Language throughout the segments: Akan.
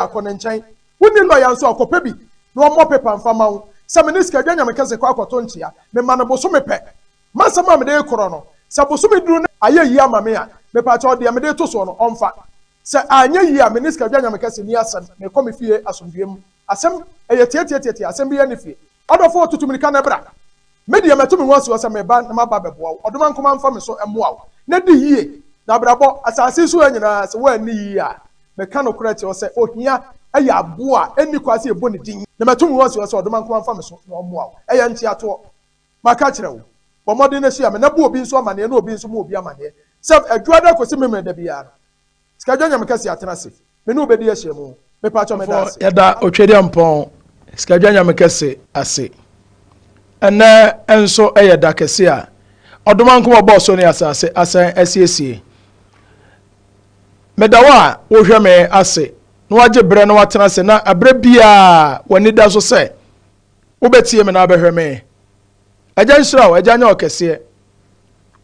akɔ ne nkyɛn. Wonni lɔya nso a, kɔpɛ bi na ɔmmɔ pepa mfa mma wo. Sɛ me ne Sikaadwa Nyamekɛse kɔ akɔto nkyea, mema no bosome pɛ. M'asɛm a mede rekorɔ no, sɛ bosome duru na ayɛ yie ama me a, mepaakyɛw deɛ mede reto soɔ no, ɔmfa. Sɛ anyɛ yie a, me ne Sikaadwa Nyamekɛse nni asɛm, mekɔ me fie asomdwoeɛ mu. Asɛm? Ɛyɛ tiatiatiatia, asɛm biara nni fie. Ɔdɔfo, tutu mmirika na bra. Me deɛ, matu me ho asi hɔ sɛ mereba na maba abɛboa wo. Ɔdoma nko ma mfa me so mmoa wo, na di yie, na abrabɔ, asase yi so ha nyinaa, sɛ woanni yie a, meka nokorɛ akyerɛ wo sɛ, ohia yɛ aboɔ a ɛnni kwan sɛ yɛbɔ ne din. Na matu me ho asi hɔ sɛ ɔdoma nko ma mfa me so na ɔmmoa wo. Ɛyɛ nteatoɔ. Maka akyerɛ wo. Bɔ mmɔden na hyia me, na bu obi nso amaneɛ, na obi nso mmu obi amaneɛ, sɛ Adwuada kɔsi Memeneda biara no, Sika dwanyame kɛse atena ase me ne wo bɛdi ahyiamu Mepakyɛ meda ase. Yɛda Otwediampɔn Sika dwanyame kɛse ase Ɛnnɛ nso yɛ da kɛse a Ɔdomankoma ɔbɔɔ so ne asase asan asiesie Meda wo a wohwɛ me ase na wagye berɛ na watena ase na berɛ biara w'ani da so sɛ Wobɛtie me na wobɛhwɛ me. Agya nhyira wo, Agya nyɛ ɔkɛseɛ.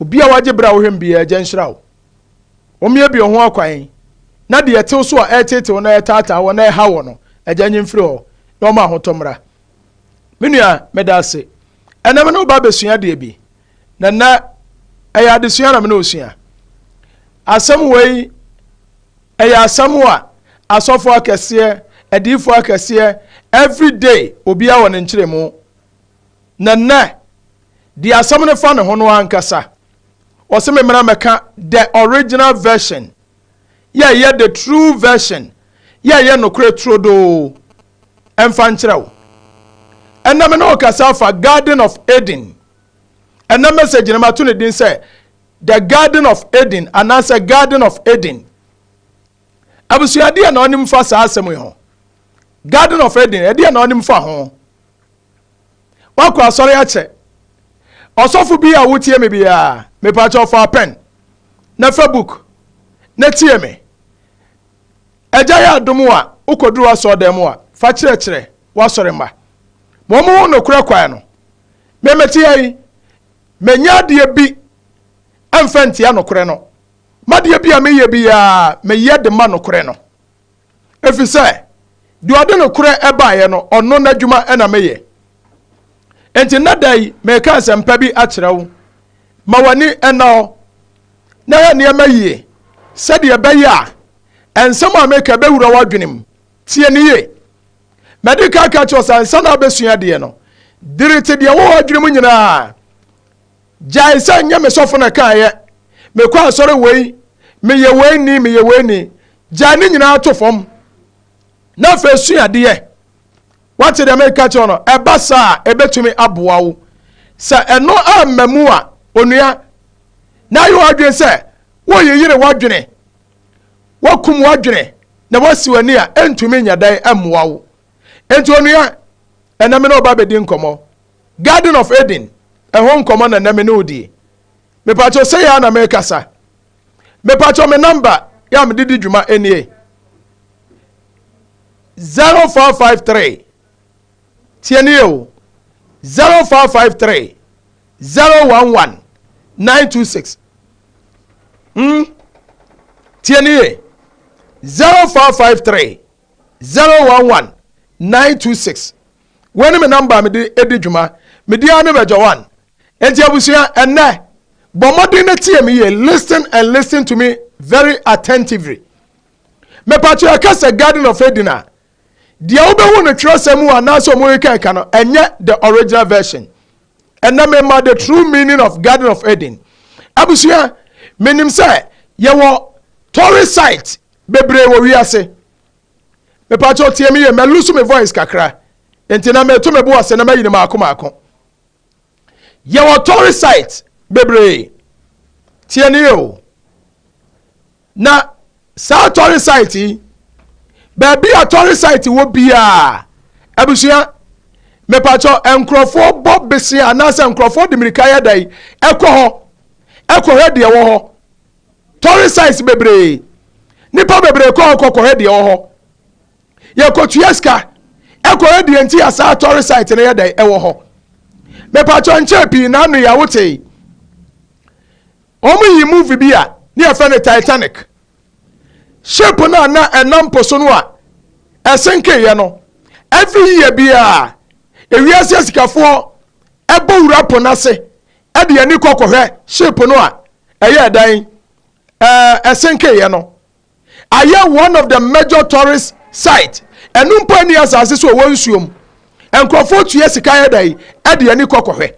Obi a wagye berɛ a wohwɛ me biara, Agya nhyira wo. Wɔmmiebie wo ho akwan, na deɛ ɛtew so a ɛreteetee wo na ɛretaataa wo na ɛreha wo no, Agya nyi mfiri hɔ, na wɔma ahotɔ mmra. Me nua, meda ase. Ɛnnɛ me ne wo ba abɛsua adeɛ bi, na nnɛ ɛyɛ adesua na me ne wo sua. Asɛm wei Ɛyɛ asɛm a asɔfoɔ akɛseɛ, adiyifoɔ akɛseɛ, every day obiara wɔ ne nkyerɛmu. Na nnɛ, deɛ asɛm no fa ne ho no ankasa, wɔse me mmra mmɛka the original version, yɛ ɛyɛ the true version, yɛ ɛyɛ nokorɛ turodoo mfa nkyerɛ wo. Ɛnnɛ me ne wo kasa afa Garden of Eden. Ɛnnɛ message no mato ne din sɛ The Garden of Eden anaasɛ Garden of Eden. Abusua deɛ na ɔnim fa saa asɛm yi ho. Garden of Eden ɛdeɛ na ɔnim fa ho. Wakɔ asɔre akyɛ. Ɔsɔfo bi a wotie me biara mepakyɛ ɔfa pɛn na fa book na tie me. Agya yɛ adom a wokɔduru asɔɔdan mu a fa kyerɛkyerɛ w'asɔre mma. Ma wɔn ho nokorɛ kwan no. Memete ha yi Mennyɛ adeɛ bi mfa ntia nokorɛ no. M'adeɛ bi a meyɛ biara, meyɛ de ma nokorɛ no. Ɛfiri sɛ, deɛ ɔde nokorɛ baeɛ no, ɔno n'adwuma na meyɛ. Enti nnɛ da yi, mereka asɛmpa bi akyerɛ wo. Ma w'ani nna hɔ, na yɛ nneɛma yie, sɛdeɛ ɛbɛyɛ a nsɛm a meka bɛwura w'adwenem, Tie no yie. Madi kan aka akyerɛ wo sɛ ansa na wobɛsua adeɛ no, dirite deɛ ɛwɔ w'adwene mu nyinaa. Gyae sɛ nyɛ me sɔfo na ɛkaeɛ, mekɔ asɔre wei, meyɛ wei ni, meyɛ wei ni. Gyae ne nyinaa to fam na afei sua adeɛ. Wate deɛ meka kyerɛ no? Ɛba saa a, ɛbɛtumi aboa wo. Sɛ ɛno amma mu a, onua, na ayɛ w'adwene sɛ woyeyere w'adwene Woakum w'adwene na woasi w'ani a, ɛrentumi nyɛ dɛn mmoa wo. Enti onua, ɛnnɛ me ne wo ba bɛdi nkɔmmɔ. Garden of Eden ɛho nkɔmmɔ na ɛnnɛ me ne wo die. Mepakyɛw sɛi ara na merekasa. Mepakyɛw me nɔmba yɛ a mede di dwuma nie. 0453 Tie nie o. 0453 Zero one one nine two six. Hmm. Tie ne yie. Zero four five three zero one one nine two six. Wei ne me namba mede edi dwuma. Medi ara ne bɛgya one. Enti abusua ɛnɛ bɔ mmɔden na tie me yie. Listen and listen to me very attentively. Mepatwa ɛka sɛ Garden of Eden a Deɛ wobɛhu no twerɛsɛm mu anaasɛ ɔmo rekɛka no ɛnyɛ the original version. Ɛnɛ mema the true meaning of Garden of Eden. Abusua, menim sɛ yɛwɔ tourist site bebree wɔ wiase. Mepakyɛw tie me yie, mɛlusu me voice kakra. Nti na meto me bo ase na mayi no maako maako. Yɛwɔ tourist sites bebree, tie no yie o, na saa tourist site yi, baabi a tourist site wɔ biara, abusua, mepakyɛ nkurɔfoɔ bɔ besea anaasɛ nkurɔfoɔ de mmirika yɛ dɛn ɛkɔ hɔ ɛkɔhwɛ deɛ ɛwɔ hɔ. Tourist sites bebree, nipa bebree kɔ hɔ kɔkɔhwɛ deɛ ɛwɔ hɔ. Yɛkɔtua sika kɔ yɛ deɛ nti a saa tɔre site no yɛ dɛn ɛwɔ hɔ mepakyɛ nkyɛɛ pii na ano yɛ a wotee wɔn yi movie bi a ne yɛfɛ no Titanic ship no a na ɛnam po so no a ɛsenkeeɛ no every year biara ewiase asikafoɔ ɛbɔ wura po no ase ɛde ani kɔ kɔhwɛ ship no a ɛyɛ ɛdan ɛsenkeeɛ no ayɛ one of the major tourist site ɛno mpo ɛni asase so ɛwɔ nsuom nkurɔfoɔ tua sika yɛ dɛ ɛde ani kɔ kɔhwɛ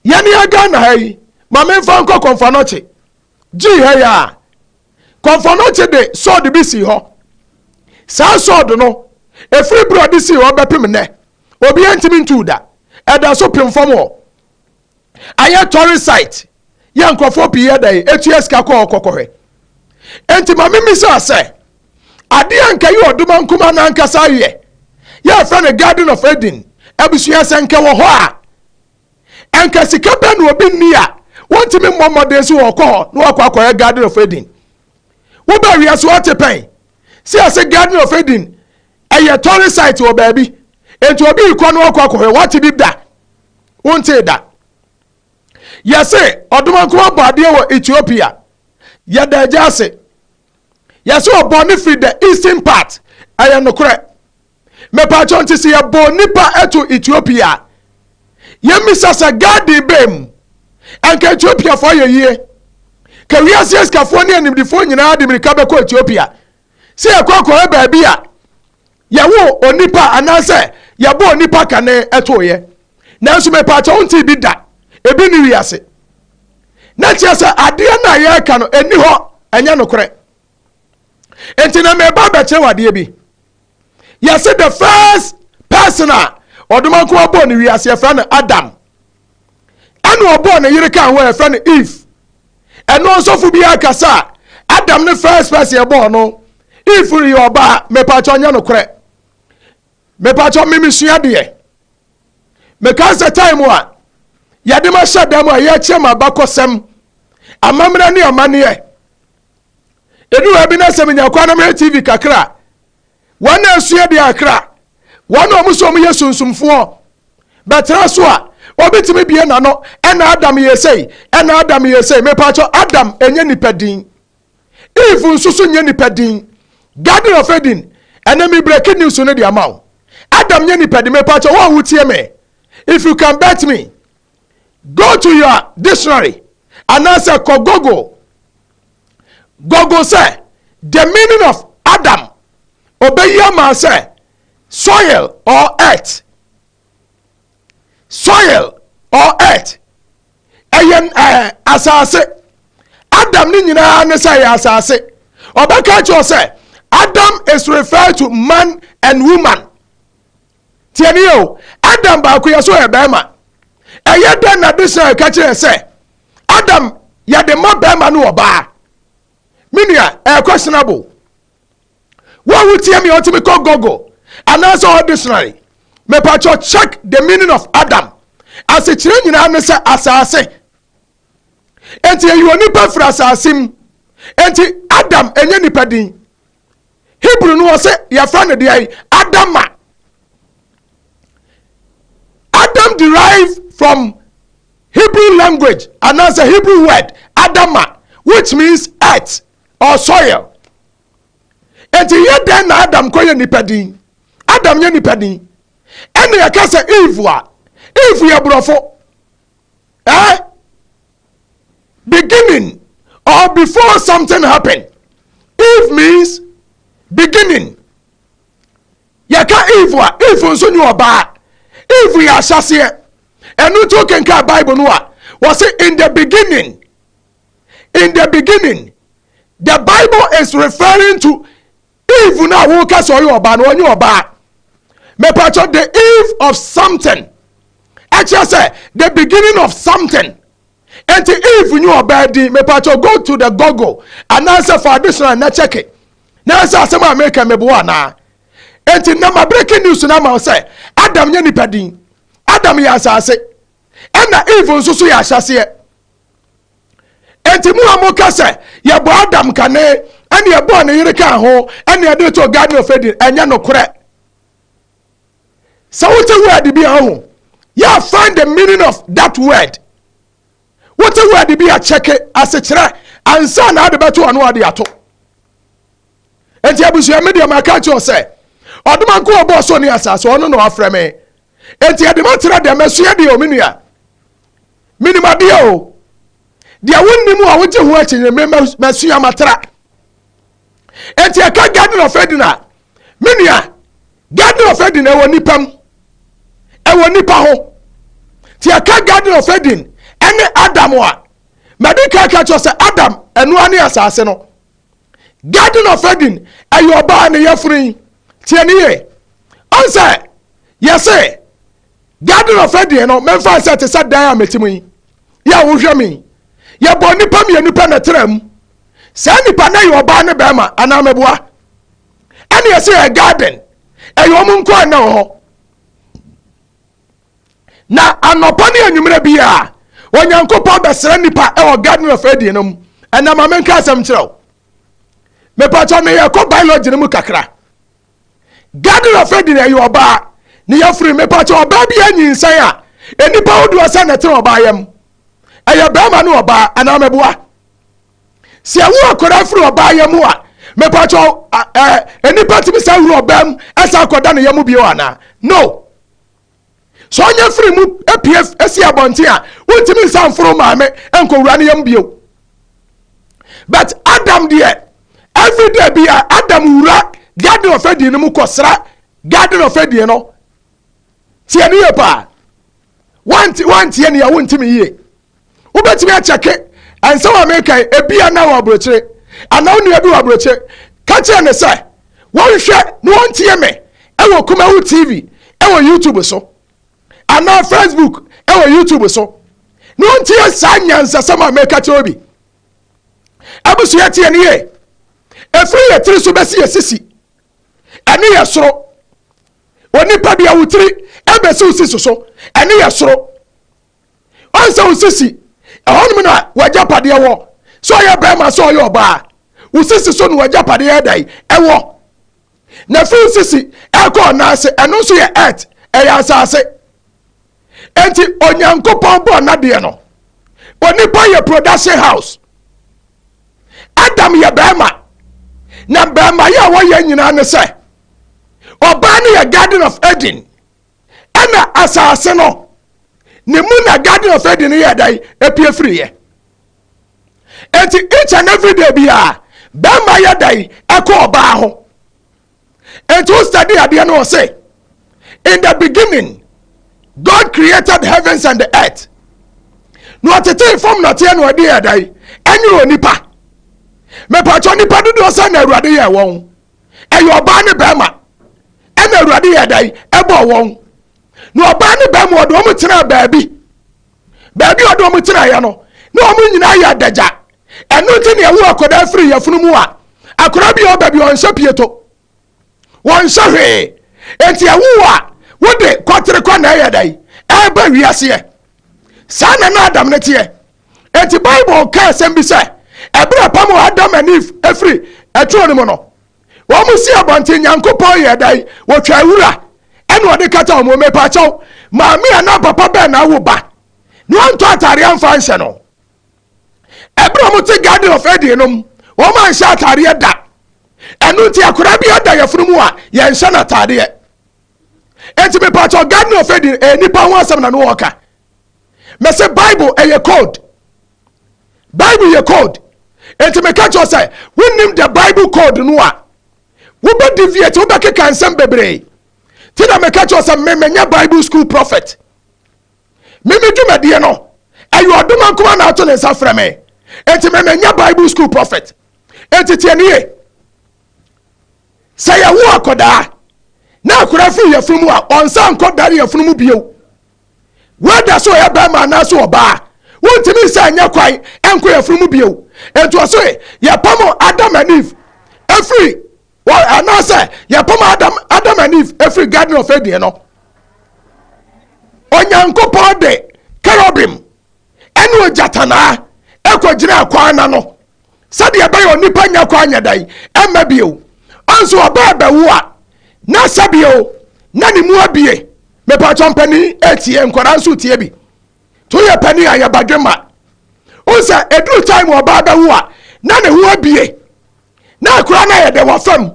yɛne agana ha yi ma memfa nkɔ kɔnfanɔkye gyii ha yi a kɔnfanɔkye de sɔɔde bi sii hɔ saa sɔɔde no ɛfiri berɛ ɔde sii hɔ bɛpem nnɛ obi ɛntimi ntuu da ɛda so pem fam hɔ ayɛ tourist site yɛ nkurɔfoɔ pii yɛ dɛn ɛtua sika kɔ hɔ kɔkɔhwɛ enti ma me misaa sɛ adeɛ a nka yɛ ɔdoma nkuma no ankasa ayɛ yɛ ɛfrɛ no garden of eden abusua sɛ nka wɔ hɔ a ɛnka sika bɛ na obi nni a wɔntumi mmɔ mmɔden so wɔkɔ hɔ na wakɔ akɔyɛ garden of eden wobɛ awia so ate pɛn sɛ ɛsɛ garden of eden ɛyɛ tɔre site wɔ baabi nti obi kɔ no akɔ akɔhwɛ wate bi da Wontee da? Yɛse ɔdomankoma bɔ adeɛ wɔ Ethiopia. Yɛda agya ase. Yɛse ɔbɔ ne firi the eastern part. Ɛyɛ nokorɛ. Mepaakyɛw nti se yɛbɔ nipa to Ethiopia a, yɛmmisa sɛ garden bɛn mu? Anka Ethiopiafoɔ ayɛ yie. Ka wiase asikafoɔ ne animdifoɔ nyinaa de mirika bɛkɔ Ethiopia. Se yɛkɔ akɔyɛ baabi a Yɛwoo onipa anaasɛ yɛbɔɔ nnipa kane tooeɛ. Nanso mepaakyɛ wontee bi da, ebi nni wiase. Na kyerɛ sɛ adeɛ no a yɛreka no nni hɔ, ɛnyɛ nokorɛ. Enti na mereba abɛkyerɛ wo adeɛ bi. Yɛse the first person a ɔdomankoma bɔɔ ne wiase yɛfrɛ no Adam. ɛna ɔbɔɔ ne yere kaa hɔ a ɛfɛ no eve ɛno nsɔfo bi akasa a adam ne first person ɛbɔɔ no eve reyɛ ɔbaa mepakyɛ ɔnyɛ nokorɛ mepakyɛ memesua deɛ mekaa sɛ time a yɛde ma hyɛ dam a yɛkyerɛ ma bakɔsɛm amammerɛ ne amanneɛ ɛnu ha bi na sɛ menya kwan na mehwɛ tv kakra wɔn a asua de akra, wɔn a wɔn sɛ wɔyɛ sunsumfoɔ bɛtra so a, obi tumi bie n'ano ɛna Adam yɛ sei, ɛna Adam yɛ sei. Mepatwɔ Adam ɛnyɛ nipa din, Eve nso so nyɛ nipa din, Garden of Eden ɛnɛ mi breaking news no de ama wo. Adam nyɛ nipa din, mepatwɔ wɔn a wotie me, if you can bet me, go to your dictionary anaasɛ kɔ Google Google sɛ The Meaning of Adam, obeyi ama sɛ soil or earth. Soil or earth. Ɛyɛ ɛɛ asase. Adam ne nyinaa ne sɛ ɛyɛ asase. Ɔbɛka kyerɛ sɛ Adam is referred to man and woman. Tie nie o, Adam baakoyɛ so yɛ barima. Ɛyɛ dɛn na adesrɛ ka kyerɛ sɛ Adam yɛ de ma barima ne ɔbaa? Me nua, ɛyɛ questionable. Wo a wotie me ɔtumi kɔ Google anaasɛ ɔhɔ dictionary, mepakyɛ check the meaning of Adam. Asekyerɛ nyinaa ne sɛ asase. Enti ɛyɛ onipa firi asase mu. Enti Adam ɛnyɛ nipa din. Hebrew no ɔsɛ yɛfrɛ no deɛ Adama. Adam derive from Hebrew language and as a Hebrew word Adama which means earth or soil. Enti yɛ dɛn na Adam kɔ yɛ nipa din? Adam yɛ nipa din. Ɛna yɛka sɛ Eve a, Eve yɛ borɔfo. Eh? beginning or before something happen eve means beginning yɛka eve a eve nso ne ɔbaa eve yɛ ahyɛseɛ ɛno nti wokenka bible no a wɔse in the beginning in the beginning the bible is referring to Eve no a woka sɛ ɔyɛ ɔbaa no ɔnyɛ ɔbaa. Mepakyɛ the eve of something ɛkyerɛ sɛ the beginning of something. Nti eve nyɛ ɔbaa din mepakyɛ go to the google anaasɛ fa adesona na kyɛke na ɛsɛ asɛm a meka meboa anaa. Nti nnɛ ma breaking news no ama wo sɛ Adam nyɛ nipa din. Adam yɛ asase ɛna eve nso so yɛ ahyɛseɛ. Enti mo a moka sɛ, yɛbɔ Adam kane, ɛne yɛbɔɔ ne yere kaa ho, ɛne yɛde too Garden of Eden, ɛnyɛ nokorɛ. Sɛ wote word bi a ho, yɛ find the meaning of that word. Wote word bi a kyɛke asekyerɛ ansa na ade bɛto ano ade ato. Enti abusua me deɛ maka kyerɛ sɛ, ɔdoma nko ɔbɔɔ so ne asase ɔno na wafrɛ me. Enti ɛde matena dɛm ɛsoɛ deɛ ɔmenua. Menim adeɛ o. Deɛ wonnim a wogye ho akyinnye me masua matra. Enti ɛka Garden of Eden a, me nua, Garden of Eden ɛwɔ nipa mu. Ɛwɔ nipa ho. Ti ɛka Garden of Eden ɛne Adam a, madi kan ka kyerɛ sɛ Adam ɛnoa ne asase no. Garden of Eden ɛyɛ ɔbaa ne yɛfunu yi. Tiɛ ne yɛ. Ɔnsɛ yɛsɛ Garden of Eden no memfa nsɛ te sɛ dan a mete mu yi. Yɛ a wohwɛ me yi, yɛbɔ nnipa mmienu pɛ na ɛtena mu. Saa nnipa no yɛ ɔbaa ne barima anaa meboa? Ɛne yɛsɛ yɛ garden, ɛyɛ wɔn nko a na wɔ hɔ. Na anɔpa ne anwummerɛ biara, Onyankopɔn bɛsrɛ nnipa ɛwɔ Garden of Eden no mu. Ɛnna ma menka asɛm kyerɛ wo. Mepatwa meyɛ kɔ biology no mu kakra. Gardner Frederick yɛ ɔbaa, ne yafunu, mepakyɛ, ɔbaa bi anyinsɛn a nnipa ahodoɔ sɛ na ɛtena ɔbaa yam. Ɛyɛ barima ne ɔbaa, anaa mɛboa? Sɛ ɛwo akwadaa firi ɔbaa yam a, mepakyɛ, ɛ, nnipa tumi san wura ɔbaa mu, ɛsan kɔda ne yam bio anaa? No. sɛ ɔnyɛ firi mu apue asi abɔnten a wontumi nsa mforo maame nkɔwura no yam bio but adam deɛ everyday bi a adam wura garden of eden no mu kɔsra garden of eden no tiɛ ne yɛ paa wanteɛ ne a wontumi yie wobɛtumi akyɛke ɛnsɛ wɔ meka yi ebia na wɔ aburokyire anaa wo nua bi wɔ aburokyire ka kyerɛ ne sɛ wɔnhwɛ na wɔntie me ɛwɔ kumawu tv ɛwɔ youtube so anaa facebook ɛwɔ youtube so na wɔntie saa nyansasɛm a meka kyerɛ bi abusua tie ne yie ɛfiri yɛ tiri so bɛsi yɛ sisi ɛne yɛ soro onipa deɛ wo tiri ɛbɛsi wo sisi so ɛne yɛ soro ɔn sɛ wo sisi ɛhɔ nom na w'agyapadeɛ wɔ sɛ ɔyɛ bɛrima sɛ ɔyɛ ɔbaa wo sisi so na w'agyapadeɛ yɛ dan ɛwɔ na fi wo sisi ɛkɔ ɔnan ase ɛno nso yɛ earth ɛyɛ asase enti onyankopɔn bɔɔ n'adeɛ no onipa yɛ production house adam yɛ bɛrima na bɛrima yɛ a wɔyɛ nyinaa ne sɛ ɔbaa no yɛ garden of eden ɛna asase no ne mu na garden of eden no yɛ dan epie firiiɛ eti each and every day biara bɛrima yɛ dan ɛkɔ ɔbaa ho eti o study adeɛ no ɔse in the beginning god created heavens and the earth na ɔtetee fam na ɔteɛ na ɔde yɛ dan ɛnyɛ onipa mepatwa nipa dodoɔ sɛ na awurade yɛ wɔn. ɛyɛ ɔbaa ne bɛɛma ɛna awurade yɛ dan ɛbɔ wɔn na ɔbaa ne bɛɛma ɔde wɔn tena baabi baabi ɔde wɔn tena yɛ no na wɔn nyinaa yɛ adagya ɛno nti na ɛwo akwadaa firi yɛfunu mu a akwadaa bi a ɔbɛ bi ɔnhyɛ pieto wɔnhyɛ hwee nti ɛwo a wode kɔtere kɔ na ɛyɛ dan ɛbɛ wiaseɛ saa na na adam ne teɛ Enti Bible ka asɛm bi sɛ, ɛberɛ a pam Adam and Eve firi ɛturo no mu no, wɔn si abɔnten, Nyankopɔn yɛɛ dɛn? Wɔtwaa wura ɛna ɔde kata wɔn mu. Mepaakyɛw, maame anaa papa bɛn na awo ba na wantɔ ataadeɛ amfa anhyɛ no? Ɛberɛ a wɔte Garden of Eden no mu, wɔn anhyɛ ataadeɛ da. Ɛno nti akwadaa bi ada yɛfono mu a, yɛnhyɛ no ataadeɛ. Enti mepaakyɛw, Garden of Eden ɛyɛ nipa ho asɛm na no wɔka. mese bible ɛyɛ code bible yɛ code enti meka kyerɛ sɛ wonim the bible code no a wobɛ deviate wobɛkeka nsɛm bebree ti na meka kyerɛ sɛ memenyɛ bible school prophet meme dwumadie no ɛyɛ ɔdoma nkoma na ato ne nsa frɛ me enti memenyɛ bible school prophet enti tie nie sɛ yɛwo akɔdaa na akora firi yɛfunu mu a ɔnsa nkɔ dare yɛfunu mu bio wɛda sɛ ɔyɛ bɛrima anaasɛ ɔbaa a, wontumi nsa nyɛ kwan nkɔ yɛfunu mu bio. Nti ɔse yɛpam Adam and Eve efiri anaasɛ yɛpam Adam, Adam and Eve efiri Garden of Eden no. Onyankopɔn de kerubim ɛne ogyatanaa ɛkɔ gyina kwan na no sɛdeɛ ɛbɛyɛ onipa nya kɔ anyɛ dan ɛmma bio ɔnso ɔba ɛbɛwo a na sɛbio na ne mu abie mepatɔ mpanin ɛtie nkwadaa nso tie bi to yɛ panin a yɛ badwe ma ɔnsɛ ɛduru time ɔba ɛbɛwo a na ne ho abie na akora no yɛ dɛ wɔ fam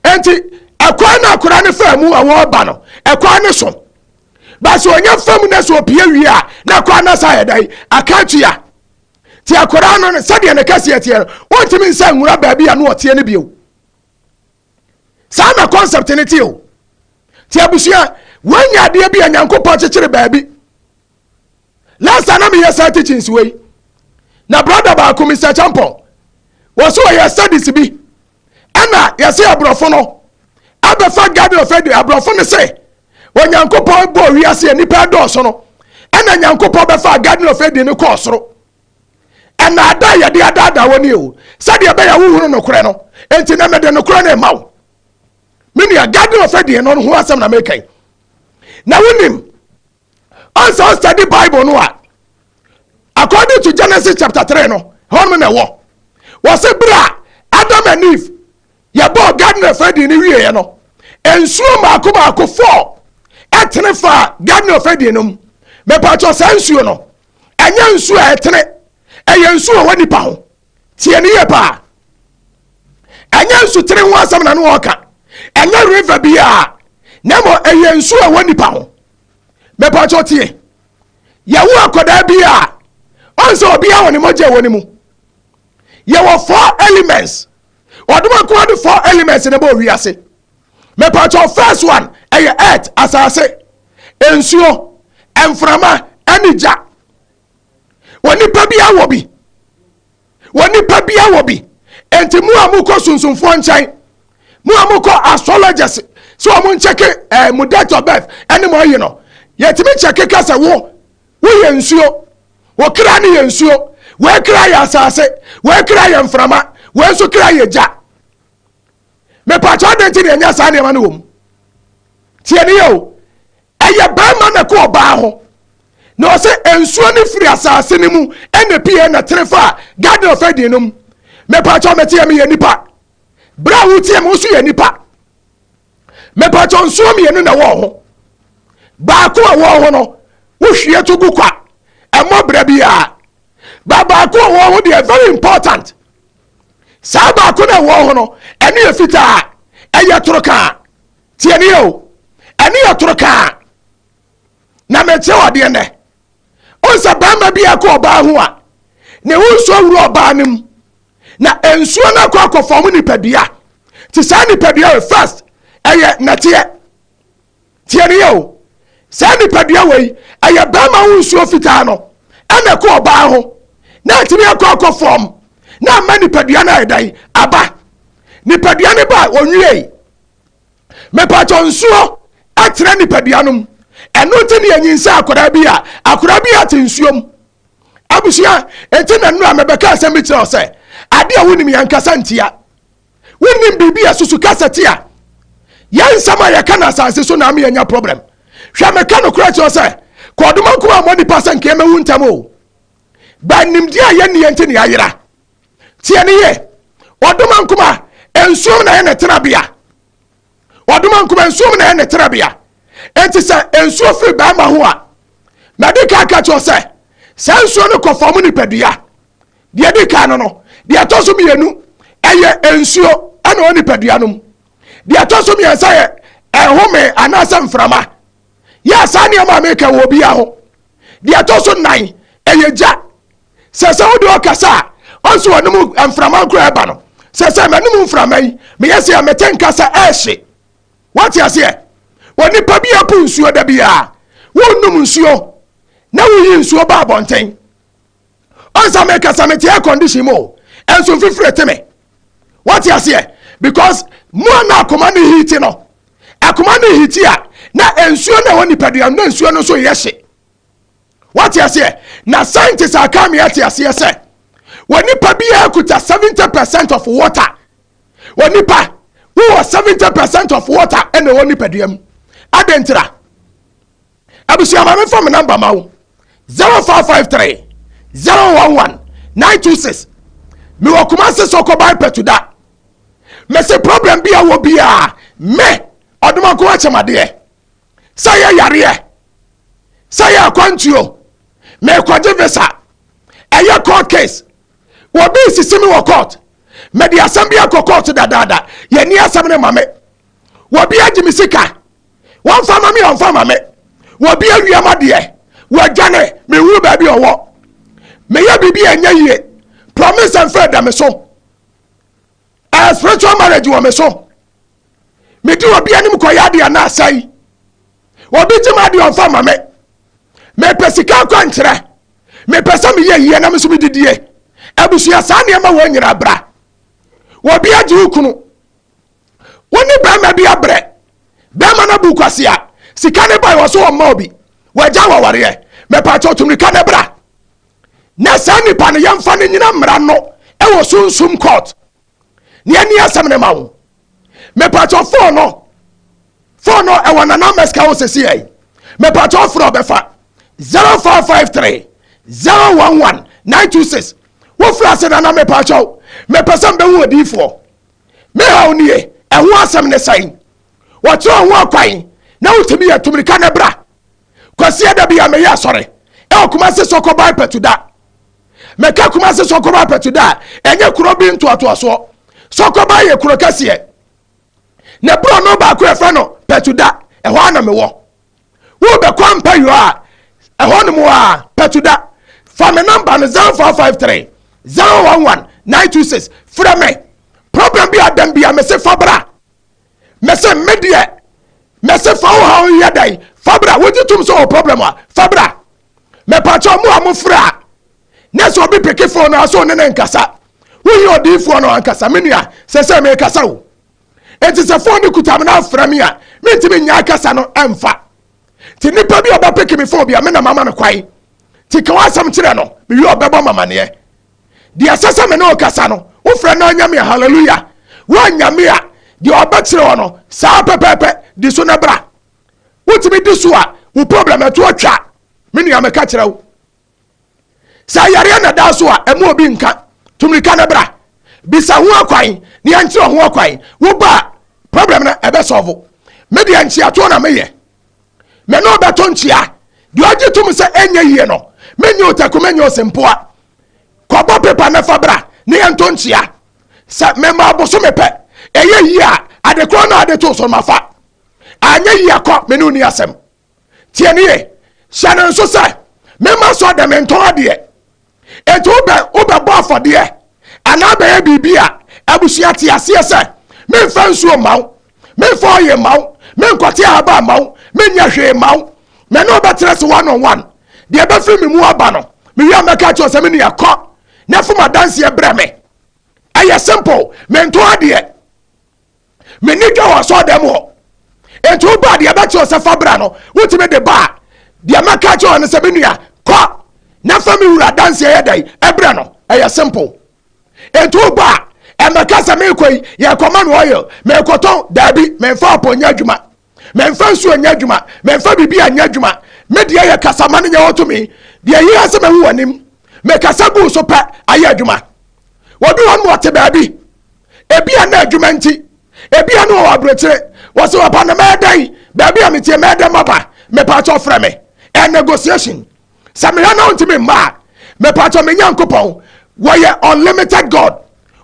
nti ɛkwan na akora no faa mu ɛwɔ ɔba no ɛkwan no so bɛsɛ ɔnya fam na sɛ ɔpie wie a na akora no sa yɛ dɛ aka atua Te akwadaa no ne sɛdeɛ ne kɛseɛ teɛ no, wontumi nsa nwura baabi a na ɔteɛ no bio. Saa na concept no teɛ o. Te abusua, woanya adeɛ bi a Nyankopɔn kyekyere baabi. Last time na meyɛ saa teachings wei. Na brother baako, Mr. Champon, wɔso wɔyɛ studies bi. ɛna yɛse aborɔfo no abɛfa garden of eden aborɔfo no se onyankopɔn bɔɔ wiase a nnipa ɛdɔɔso no ɛna nyankopɔn bɛfa garden of eden no kɔɔ soro ɛnaada a yɛde adaadaa wɔ ne o sɛdeɛ ɛbɛyɛ wohunu nokorɛ no enti na mede nokorɛ no ɛma wo me nua garden of eden no ho asɛm na meka yi na wonim Ɔnsa ɔsɛde Bible no a, according to Genesis chapter three no, hɔ no na ɛwɔ. Wɔsɛ bere a Adam and Eve yɛbɔɔ garden of Eden no wieɛ no, nsuo mmaako mmaako fɔɔ ɛtene faa garden of Eden no mu. Mepatwɔ saa nsuo no, ɛnyɛ nsuo a ɛtene, ɛyɛ nsuo a ɛwɔ nipa ho. Tie ne yie paa. Ɛnyɛ nsutene ho asɛm na no ɔka, ɛnyɛ river biara, na mmom ɛyɛ nsuo a ɛwɔ nipa ho. mɛpakyɛ ɔteɛ yɛwo akwadaa bi a ɔn sɛ obiara wɔ ne mogya ɛwɔ ne mu yɛwɔ four elements ɔdom nkoa de four elements ne bɔ wiase mɛpakyɛ first one ɛyɛ earth asase nsuo mframa ɛne gya onipa bia wɔ bi onipa bia wɔ bi nti mu a mokɔ sunsumfoɔ nkyɛn mu a mokɔ astrologers sɛ wɔn nkyɛke ɛɛ eh, mo date of birth ɛne mo ayi no yɛtumi kyɛke ka sɛ wo woyɛ nsuo wɔkra no yɛ nsuo wɔakra yɛ asase wɔakra yɛ mframa wɔn nso kra yɛ gya mepatwa de nti na ɛnyɛ saa nneɛma no wɔ mu tiɛ ne yɛ o Ɛyɛ barima na ɛkɔ ɔbaa ho. Na ɔsɛ nsuo no firi asase no mu ɛna ɛpie ɛna tene fa garden of Eden no mu. Mepatwɔ meteɛ meyɛ nipa. Berɛ a woteɛ me woso yɛ nipa. Mepatwɔ nsuo mmienu na ɛwɔ ho. Baako a ɛwɔ ho no wohwie to gu kwa ɛmmɔ berɛ biara. Ba baako a ɛwɔ ho deɛ very important. Saa baako na ɛwɔ ho no ɛne yɛ fitaa ɛyɛ toro kaa. Tie ni o, ɛne yɛ toro kaa. Na mekyerɛ wɔ adeɛ nɛ. Ɔn sɛ barima bi ɛkɔ ɔbaa ho a, ne ho nsuo wuro ɔbaa no mu. Na nsuo no akɔ akɔ fɔm nipadua. Ti saa nipadua wei first, ɛyɛ nɛteɛ. Tie ni yɛ o, saa nipadua wei, ɛyɛ barima ho nsuo fitaa no, ɛna ɛkɔ ɔbaa ho. Na ɛtumi akɔ akɔ fɔm, na ama nipadua no ayɛ dɛn? Aba. Nipadua no ba a, ɔnwiei. mepatwɔ nsuo ɛtena nipadua nom ɛno nti ne yɛnyin sɛ akwadaa bi a akwadaa bi ate nsuo mu abusua eti na nnura mɛbɛka asɛm bi kyerɛ sɛ ade a wonim yɛn kasa ntia wonim biribi a susu kasa tia yɛn nsɛm a yɛka na asase so na ama yɛnya problem hwɛ mɛka no korɛ kyerɛ sɛ kɔɔdoma nko a mɔ nipa sɛ nka yɛmɛwu ntɛm o bɛnimdeɛ a yɛnni yɛn ti ne ayera Tie ne yie. Ɔdoma nkuma, nsuom na ɛyɛ ne tenabea. Ɔdoma nkuma, nsuom na ɛyɛ ne tenabea. Enti sɛ nsuo firi barima ho a, madi kan aka kyerɛ sɛ, saa nsuo no kɔ fam nipadua. Deɛ ɛdi kan no no, deɛ ɛtɔ so mmienu, ɛyɛ nsuo ɛna ɔwɔ nipadua no mu. Deɛ ɛtɔ so mmiɛnsa yɛ ɛhome anaasɛ mframa. Yɛ a saa nneɛma a meka wɔ obiara ho. Deɛ ɛtɔ so nnan, ɛyɛ gya. Sɛ sɛ wode ɔkasa a, ɔnso anom mframa nkora ɛba no. Sɛ sɛ m'anom mframa yi, meyɛ sɛ mete nka sɛ ɛrehye. Wate aseɛ? Onipa bi apu nsuo da biara. Wonom nsuo na woyi nsuo ba abɔnten. ɔnsa meka sɛ mete air condition mu o ɛnso mfifire te me wate aseɛ because mu a na akoma ne hiti no akoma ne hiti a na nsuo na ɛwɔ nipadua na nsuo no nso yɛ hye wate aseɛ na scientist aka me ate aseɛ sɛ wɔ nipa biara kuta seventy percent of water wɔ nipa wowɔ seventy percent of water ɛna ɛwɔ nipadua mu adentira Abusua ma me fa me number ma wo 0553 011 926 me wɔ Kumasi Soko by Petuda me se problem bi a wɔ bi a me ɔdomanko akyɛmadeɛ sɛ yɛ yareɛ sɛ yɛ akwantuo mekɔgye visa ɛyɛ court case wɔ bi sisi me wɔ court mede asɛm bi akɔ court dadaada yɛni asɛm ne ma me wɔ bi agye me sika wɔmfa ma me ɔmfa ma me wɔbi awia ma deɛ wɔadwane mehunu baabi ɔwɔ meyɛ biribi a ɛnyɛ yie promise and faith da me so ɛyɛ spiritual marriage wɔ me so medi obi anim kɔyɛ adeɛ na asɛe obi gye ma adeɛ ɔmfa ma me mepɛ sika akwankyerɛ mepɛ sɛ meyɛ yie na me so medidie abusua saa nneɛma wɔ nyinaa bra wɔbi agye wo kunu wo ne barima bi abrɛ barima no abu kwasea sika ne bae wɔ so ɔmma obi wagya wɔ awareɛ mɛpakyɛ ɔtumrika ne bra na saa nipa no yɛmfa no nyina mmara no ɛwɔ sunsum court ne ɛni asɛm ne ma wo mɛpakyɛ fon no fon no ɛwɔ nana mɛsika wo sɛsi ɛyi mɛpakyɛ ɔforɔ bɛfa 0453 011 926 wofiri ase nana mɛpakyɛ mɛpɛ sɛ mbɛhu odiifoɔ Me haw nie, ɛho asɛm ne sɛn? Wɔkyerɛ wo ho akwan na wotumi yɛ tumirika na bra. Kwasia da bi a meyɛ asɔre ɛwɔ Kumasi Sɔkɔ Bae Patuda. Meka Kumasi Sɔkɔ Bae Patuda a, ɛnyɛ kuro bi ntoatoasoɔ. Sɔkɔ Bae yɛ kuro kɛseɛ. Ne borɔno baako a yɛfrɛ no Patuda, ɛhɔ ara na mewɔ. Wo bɛ kɔ mpayɔ a ɛhɔ nom a patu da fa me number no zero four five three zero one one nine two six frɛ me problem bi a dɛm bi a me se fa bra me se me deɛ me se fa wo haw yɛ dɛn fa bra wo gye tum so wɔ problem a fa bra me pa kyɛ ɔmo a mo frɛ a ne sɛ obi peke phone no aso ne ne nkasa wo yɛ odiifoɔ no ankasa me nua sɛ sɛ me kasa o. Enti sɛ fon no kuta me na afrɛ me a, mentumi nnya akasa no mfa. Nti nnipa bi a ɔbɛpeke me fon bi a, me na mama no kwan. Nti ka w'asɛm kyerɛ no, mewie a ɔbɛbɔ m'amaneɛ. Deɛ ɛsɛ sɛ me ne wo kasa no, wofrɛ na anya me a, hallelujah. Woannya me a, deɛ ɔbɛkyerɛ wo no, saa ara pɛpɛɛpɛ, di so na bra. Wotumi di so a, wo problem ɛto atwa. Me nua, meka kyerɛ wo. Sɛ ayareɛ na ɛda so a, ɛma obi nka. Tumirika no bra. Bisa ho akwan na yɛnkyerɛ ho akwan. Woba a, problem no ɛbɛsɔɔvo. Me deɛ nkyeatoɔ na meyɛ. Me ne wo bɛto nkyea. Deɛ ɔgye tom sɛ ɛnyɛ yie no, menyɛ otaku, menyɛ osempoa. Kɔbɔ pepa na fa bra na yɛnto nkyea. Sɛ mema abosome pɛ, ɛyɛ yie a, adekorɔ no a ade too so no mafa. Anyɛ yie a, kɔ, me ne wo nni asɛm. Tie no yie. Hyɛ no nso sɛ, Memma sɔɔ dɛ mentɔn adeɛ. Enti wobɛ wobɛbɔ afɔdeɛ anaa bɛyɛ biribi a abusua te aseɛ sɛ, Memfa nsuo mma wo, memfa ɔye mma wo, menkɔte ahaban mma wo, menyɛ hwee mma wo. Me ne wo bɛtena ase one on one. Deɛ ɛbɛfiri me mu aba no, mewie a mɛka akyerɛ wo sɛ me nua kɔ na fom adanseɛ brɛ me. Ɛyɛ simple. Mentɔn adeɛ. M'ani dwa wɔ asɔɔdɛm hɔ. Enti wo baa deɛ bɛkyerɛ sɛ fa bra no, wotumi de baa. Deɛ mɛka kyerɛ wɔ no sɛ, me nua, kɔ na fa me wura danseɛ yɛ dɛn? Ɛbrɛ no. Ɛyɛ simple. Enti wo baa, ɛmɛka sɛ meekɔ yi, yɛkɔma me oil, meekɔtɔn, daabi, memfa apɔ nyɛ adwuma. Mɛmfa nsuo nyɛ adwuma, mɛmfa biribiara nyɛ adwuma, me deɛ yɛ kasa ma no nyɛ hɔ tumi, deɛ ɛyɛ ara sɛ mahu w'anim. Mekasa guu so pɛ, ayɛ adwuma. Wɔbi hɔ no ma ɔte baabi, ebia na adwuma nti, ebia na ɔwɔ aburokyire, wɔse ɔba no mɛɛdɛn, baabi a meteɛ mɛɛdɛn maba, mepaakyɛw frɛ me, a negotiation. sɛ mehwɛ na wontumi mma a mepatɔ me nyankopɔn wɔyɛ unlimited god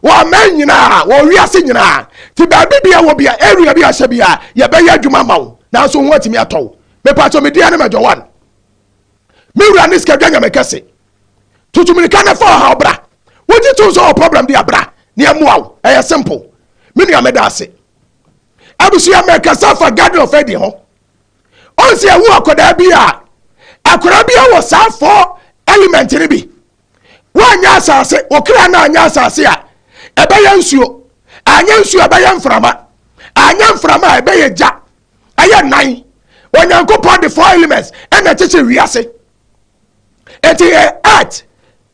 wɔ aman nyinaa wɔ wiase nyinaa ti baabi bia wɔ bia area bi ahyɛ bia yɛbɛyɛ adwuma ma wo nanso ho atumi atɔ wo mepatɔ me dua ne madwa wan me wura ne sikadwa nyame kɛse tutumirika ne fa ɔha ɔbra wogye to nso wɔ problem de abra ne ɛmoa wo ɛyɛ simple me nua meda ase abusua mɛkasa fa garden of eden ho ɔn sɛ yɛwo akwadaa bi a akwadaa bi wɔ saa fɔ element no bi woanyɛ asase wo kra no anyɛ asase a ɛbɛyɛ nsuo anyɛ nsuo a ɛbɛyɛ mframa anyɛ mframa a ɛbɛyɛ gya ɛyɛ nan onyankopɔn de four elements ɛna kyekyere wiase ɛti yɛ earth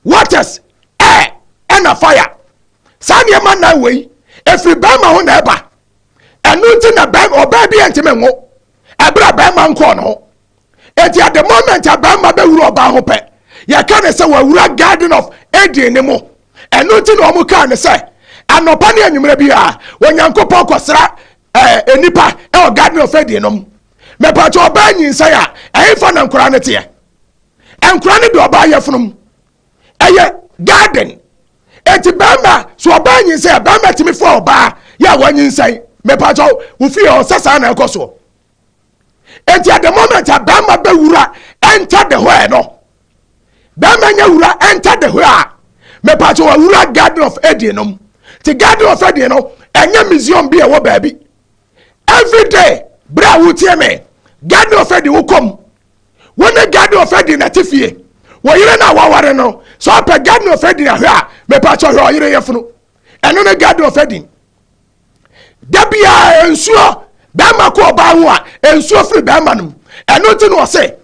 waters air ɛna fire saa nneɛma nan wei ɛfiri bɛrima ho na ɛba ɛno nti na ɔbaa bi ntumi nwo ɛberɛ a bɛrima nkɔɔ ne ho ɛti at the moment a bɛrima bɛwura ɔbaa ho pɛ yɛka ne sɛ wawura garden of eden ne mu ɛno nti na ɔmo kaa ne sɛ anɔpa ne anwummerɛ bi a onyankopɔn kɔsra ɛɛ eh, nipa ɛwɔ garden of eden nom mɛpɛtɛ ɔbaa nyinsɛn a ɛyɛfa na nkora ne teɛ nkora ne de ɔbaa yɛ funum ɛyɛ garden Enti barima, so ɔbaa nyinsɛn a, barima tumi foa ɔbaa yɛ a wanyinsɛn? Mepakyɛw, wo fie hɔ, sɛ saa na ɛkɔ soɔ. Enti at the moment a barima bɛwura enter the hɔ no, barima nya wura enter the hɔ a, mepakyɛw awura Garden of Eden no mu. Nti Garden of Eden no, ɛnyɛ museum bi a ɛwɔ baabi. Every day, berɛ a wotie me, Garden of Eden wokɔ mu, wo ne gad na ɔfɛ din na te fie wo yere na waware no sɛ ɔpɛ gad na ɔfɛ din ahwɛ a mepa kyɛ hwɛ ɔyere yɛ funu ɛno ne gad na ɔfɛ din da biara nsuo bɛrima kɔ ɔbaa ho a nsuo firi bɛrima no mu ɛno nti na ɔse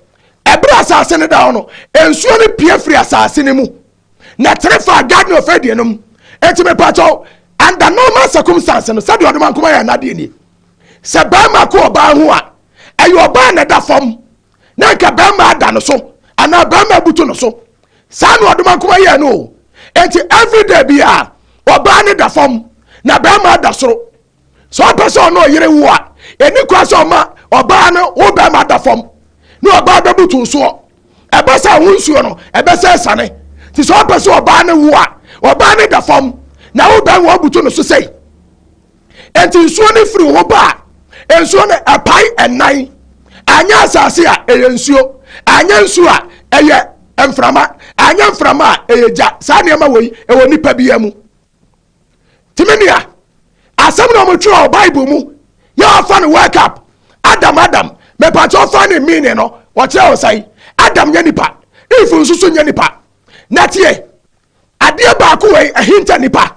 ɛberɛ asase no da hɔ no nsuo no pie firi asase no mu na tere faa Gad ne ɔfɛ deɛ no mu. Enti mepakyɛw, under normal circumstance no, sɛdeɛ ɔdoma nkoma yɛ n'adeɛ nie. Sɛ barima ko ɔbaa ho a, ɛyɛ ɔbaa na ɛda fam, na anka barima ada no so, anaa barima abutu no so. Saa na ɔdoma nkoma yɛɛ no o. Enti everyday biara, ɔbaa no da fam, na barima ada soro. sɛ ɔpɛ sɛ ɔne ɔyere wo a ɛni kora sɛ ɔma ɔbaa no wo bɛrima da fam ne ɔbaa bɛbutu nsoɔ ɛbɛ sɛ wo nsuo no ɛbɛ sɛ sane nti sɛ ɔpɛ sɛ ɔbaa no wo a ɔbaa no da fam na wo bɛrima wabutu no so sɛi ɛnti nsuo no firi wo ba a nsuo no ɛpae ɛnan anyɛ asase a ɛyɛ nsuo anyɛ nsuo a ɛyɛ mframa anyɛ mframa a ɛyɛ gya saa nneɛma wɔ yi ɛwɔ nipa biara mu nti me nua asɛm na wɔtwerɛ wɔ bible mu yɛ wɔfa no wake up adam adam mepatwɛ fa ne meaning no wɔkyerɛ wo sɛn adam nyɛ nipa if nso so nyɛ nipa na tie adeɛ baako wei ahinta nipa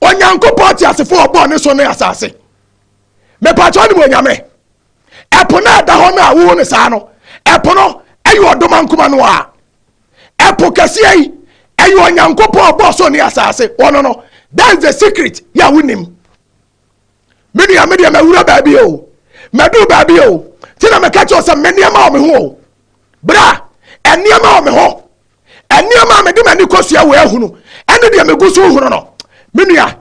onyankopɔn te asefo ɔbɔɔ ne so ne asase mepatwɛ ne mu onyame ɛpo no ɛda hɔ no a wowo no saa no ɛpo no ɛyɛ ɔdoma nkoma no a Ɛpo kɛseɛ yi, ɛyɛ Onyankopɔn a ɔbɔɔ soro ne asase, ɔno no. That is the secret, yɛ a wonim. Me nua, me deɛ mawura baabi o, maduru baabi o, nti na meka kyerɛ wo sɛ me nneɛma wɔ me ho o. Bra, nneɛma wɔ me ho. Nneɛma a mede m'ani kɔsua wɔ ahunu, ɛne deɛ megu so hunu no. Me nua,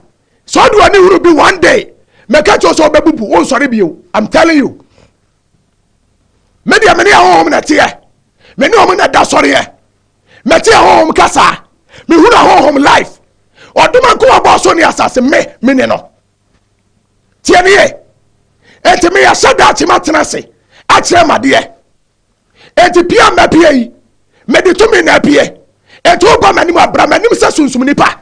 sɛ ɔde w'ani hunu bi one day, meka kyerɛ wo sɛ wobɛbubu, wonsɔre bio. I'm telling you. me deɛ me ne ahɔhom na ɛteɛ me ne wɔn na da sɔreɛ mɛte ahɔhom kasa mehunu ahɔhom life ɔdoma nko a bɔɔ so ne asase me me ne no teɛ ne yɛ enti meyɛ hyɛ daakye matena ase akyerɛ madeɛ enti pia mma pia yi mede tumi na apue enti woba m'anim abra m'anim sɛ sunsum nipa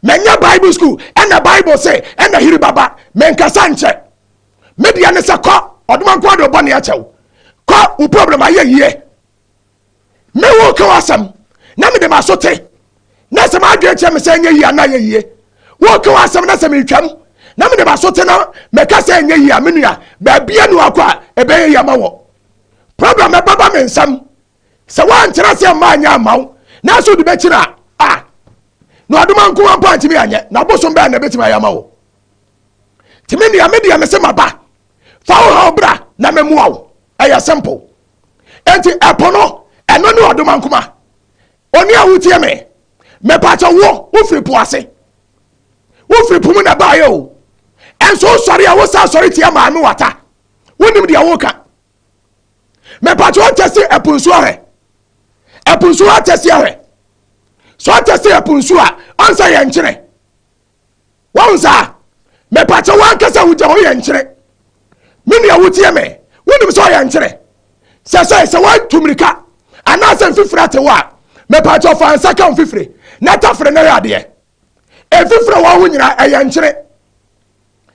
manya bible school ɛna bible sɛ ɛna hiri baba menkasa nkyɛ me deɛ ne sɛ kɔ ɔdoma nko ade ɔbɔ ne akyɛw kɔ wo problem ayɛ yie me wo ka w'asɛm na mede m'aso te na sɛ m'adwene kyerɛ me sɛ ɛnyɛ yie anaa yɛ yie wo ka w'asɛm na sɛ metwam na mede m'aso te na mɛka sɛ ɛnyɛ yie a me nua baabia ne wakɔ a ɛbɛyɛ yɛ ma wɔ problem ɛbɛba me nsɛm sɛ woankyerɛ sɛ mma anyɛ ama wo nanso wode bɛkyina a na ɔdoma nko wa mpo antumi anyɛ na bosom bɛɛ na ɛbɛtumi ayɛ ama wo nti me nua me deɛ me se ma ba fa wo haw bra na me mua wo ɛyɛ simple nti ɛpo no ɛno ne ɔdoma nkuma oni a wotie me mepatɔ wo wofiri po ase wofiri po mu na baayɛ o ɛnso wosɔre a wosa sɔre tia maame wata wonim deɛ woka mepatɔ ɔtɛse ɛpo nsuo ahwɛ ɛpo nsuo atɛse ahwɛ so atɛse ɛpo nsuo a ɔnsa yɛ nkyerɛ Wahu saa? Mepakyɛ wankasa wo gya hɔ yɛ nkyere. Me nua wotie me, wonim sɛ ɔyɛ nkyere. Sɛ sɛ sɛ watu mirika anaasɛ mfifire ate wo a, mepakyɛ fa nsa ka mfifire na tafere na yɛ adeɛ. Mfifire wɔ ho nyinaa ɛyɛ nkyere.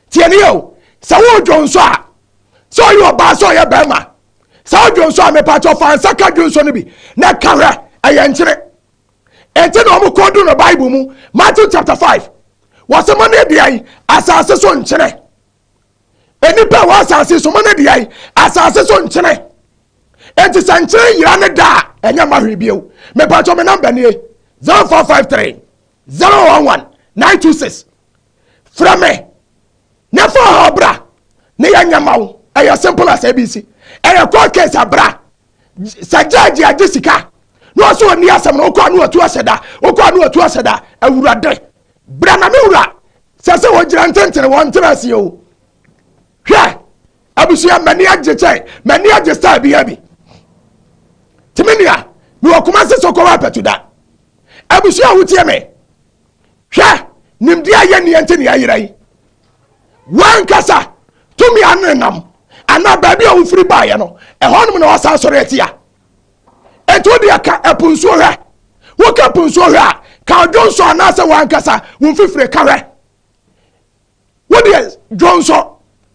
Tie ne yɛ o, sɛ wodwo nso a, sɛ ɔyɛ ɔbaa sɛ ɔyɛ bɛrima, sɛ wodwo nso a mepakyɛ fa nsa ka dwo nso no bi na ka hwɛ ɛyɛ nkyere. Enti na wɔn kɔn du no Bible mu. Matthew chapter five. Wɔsɛ mo ne deɛ asase so nkyene. Nnipa wɔ asase so mo ne deɛ asase so nkyene. Enti sɛ nkyene yira ne da a ɛnyɛ mma hwee bio. Mepatwɔ me namba nie zero four five three zero one one nine two six. Frɛ me na fa ɔhaw bra ne yɛ nyɛ ma wo. Ɛyɛ simple as ABC. Ɛyɛ court case abra. sɛ gyɛɛgye agye sika na ɔsɛ ɔni asɛm no wokɔ a ne watu ahyɛ da wokɔ a ne watu ahyɛ da awurade bra na me wura sɛ sɛ wɔgyina ntentene wɔn ntena aseɛ o hwɛ abusua m'ani agye kyɛ m'ani agye style bi abi tìmí nìyà mi wɔ kuma se sɔkɔ wa pɛtu da abusua a wotie mi Hwɛ! Nimdeɛ a yɛnni nti na yɛyera yi. W'ankasa tumi a nenam anaa baabi a wofiri baeɛ no, ɛhɔnom na wɔsan sɔre atia. Enti wo deɛ ka ɛpo nsuo hwɛ. Woka ɛpo nsuo hwɛ a, ka odwo nso anaasɛ w'ankasa wo mfifire ka hwɛ. Wo deɛ dwonsɔ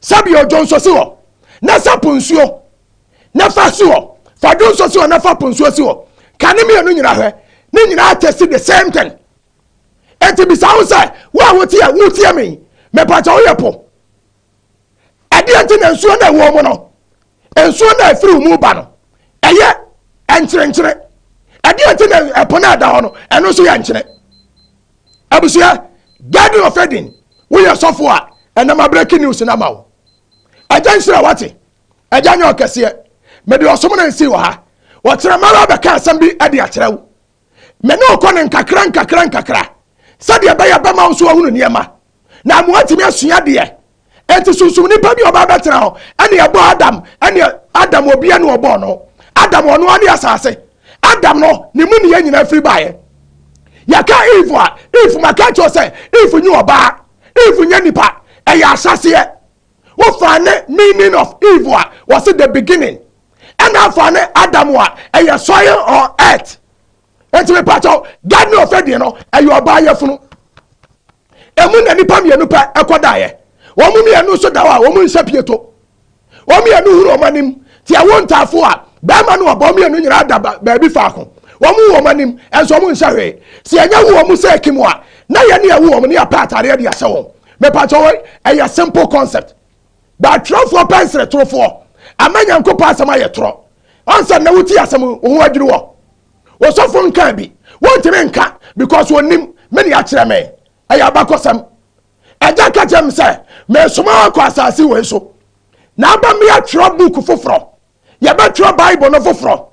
sɛbio dwonsɔ si hɔ na sa po nsuo na fa si hɔ fa dwonsɔ si hɔ na fa po nsuo si hɔ ka ne mmienu nyina hwɛ ne nyinaa tɛsi the same thing eti bisa wo sɛ wo a woteɛ woteɛ me mepatwa woyɛ po ɛdeɛ nti na nsuo na ɛwɔ mu no Nsuo no a ɛfiri wo mu ba no, ɛyɛ nkyerenkyere. Ɛdeɛ nti na ɛpo no a ɛda hɔ no, ɛno nso yɛ nkyene. Abusua, Garden of Eden, woyɛ sɔfo a, ɛnam abrɛki news no ama wo. Agya nhyira wate, agya nyɛ ɔkɛseɛ. Mede ɔsom no nsii wɔ ha. Wɔkyerɛ mara bɛka asɛm bi de akyerɛ wo. Me ne wokɔ no nkakra nkakra nkakra sɛdeɛ ɛbɛyɛ bɛma wo nso ahunu nneɛma. na moatumi asua deɛ ɛnti sunsum nipa bi ɔbaa bɛtena hɔ ɛne ɛbɔ adam ɛne adam obia ne ɔbɔɔ no adam ɔno ane asase adam no ne mu neyɛ nyina firi baeɛ yɛka eve a eve maka kyerɛ sɛ eve nye ɔbaa eve nye nipa ɛyɛ ahyɛseɛ wofa ne meaning of eve a wɔse the beginning ɛna afa ne adam a ɛyɛ soil or earth ɛnti me pakyɛw gad ne ɔfɛ deɛ no ɛyɛ ɔbaa yɛ funu ɛmu na nipa mmienu pɛ ɛkɔ daeɛ wɔn mmienu nso da hɔ a wɔn nsa pie to wɔn mmienu huru wɔn anim te ɛwo ntaafo a bɛrima ne ɔbaa mmienu nyinaa da baabi faako wɔn hu wɔn anim ɛnso wɔn nsa hwee si ɛnyɛ hu wɔn sɛ ɛkim a na yɛ ne ɛwo wɔn ne apɛ ataadeɛ de ahyɛ wɔn me pakyɛw ɛyɛ simple concept. But atwerɛfoɔ pɛ nseretorofoɔ ama Nyankopɔn asɛm ayɛ torɔ. Ansa nnɛ wotie asɛm yi, wo ho adwiri wo. Osɔfo nkaa bi, wontumi nka because onnim me ne akyerɛ me. Ɛyɛ abakɔsɛm. Agya ka kyerɛ me sɛ meresoma wo akɔ asase wei so na aba mmea twerɛ book foforɔ. Yɛbɛtwerɛ Bible no foforɔ.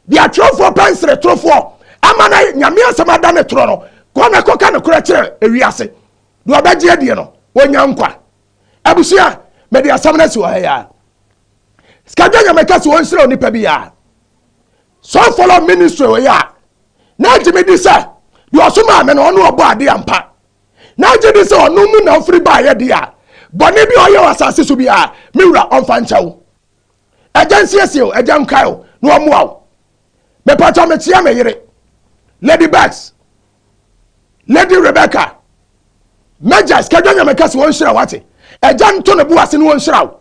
Deɛ atwerɛfoɔ pɛ nseretorofoɔ ama na Nyame asɛm ada ne torɔ no, kɔ na kɔka nokorɛ kyerɛ ewiase. Deɛ ɔbɛgye adie no, ɔnya nkwa. abusua mede asɛm no asi wɔ ha yi a sikadwa nyame ka sɛ wɔnhyerɛ onipa bi a so follow ministry wɔ yi a na agye me di sɛ deɛ ɔso maa me no ɔno ɔbɔ ade ampa na agye di sɛ ɔno mu na ɔfiri baayɛ de a bɔne bi a ɔyɛ wɔ asase so bi a me wura ɔmfa nkyɛw Agya nsiesie o, agya nkae o, na wɔmmoa wo. Mepatɔ mekyea me yere, Lady Bags, Lady Rebecca, Mɛgya sikadwa nyame kɛse wɔn nhyira wate. Agya nto ne bo ase ne wɔn nhyira wo.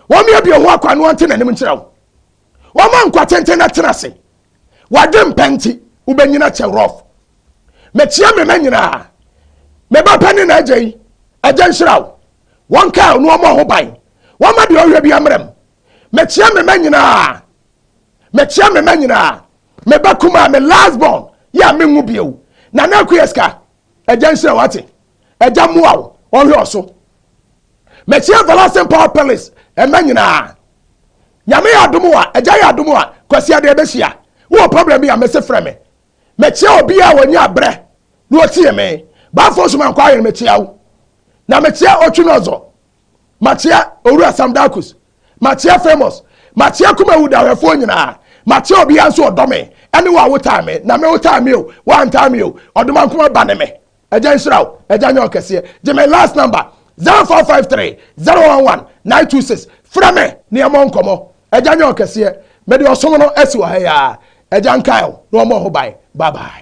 Wɔn miebie ho akwan ne wɔn te n'anim nkyerɛ wo. Wɔn ma nkwa tenten na tena ase. Wadwe mpɛ nti, wobɛnyina kyɛ rough. Mekyea me mɛ nyinaa. Me ba pɛ ne n'agya yi, agya nhyira wo. wɔnkae ɔno ɔmmɔ ho ban. Wɔmma deɛ ɔhwɛ biara mmram. Mekyea me mma nyinaa. Mekyea me mma nyinaa. Me ba kumaa, me last born, yɛ a menwo bio. Nana Akua Sika, Agya nhyira wo, wate? Agya mmoa wo, ɔnhwɛ wo so. Mekyea Everlasting Power Palace mma nyinaa. Nyame yɛ adom a, Agya yɛ adom a, Kwasi Adɛɛ bɛhyia. Wowɔ problem bi a, mese frɛ me. Mekyea obiara a wanya abrɛ na otie me. Bafo so mankɔ ayen mekyea wo. Na mekyea Otwinozor. Makyea Owura Sam Darkus. Makyea Famous. Makyea Kumawu dawɛfoɔ nyinaa. Makyea obiara nso ɔdɔ me ɛne wo a wotaa me. Na me wotaa me o, woantaa me o, Ɔdomankoma ba ne me. Agya nhyira wo, Agya nyɛ ɔkɛseɛ. Gye me last number, 0453 011 926. Frɛ me na yɛmmɔ nkɔmmɔ. Agya nyɛ ɔkɛseɛ. Mede ɔsom no asi wɔ ha yi ara. Agya nkae wo na ɔmmɔ ho ban. Bye bye.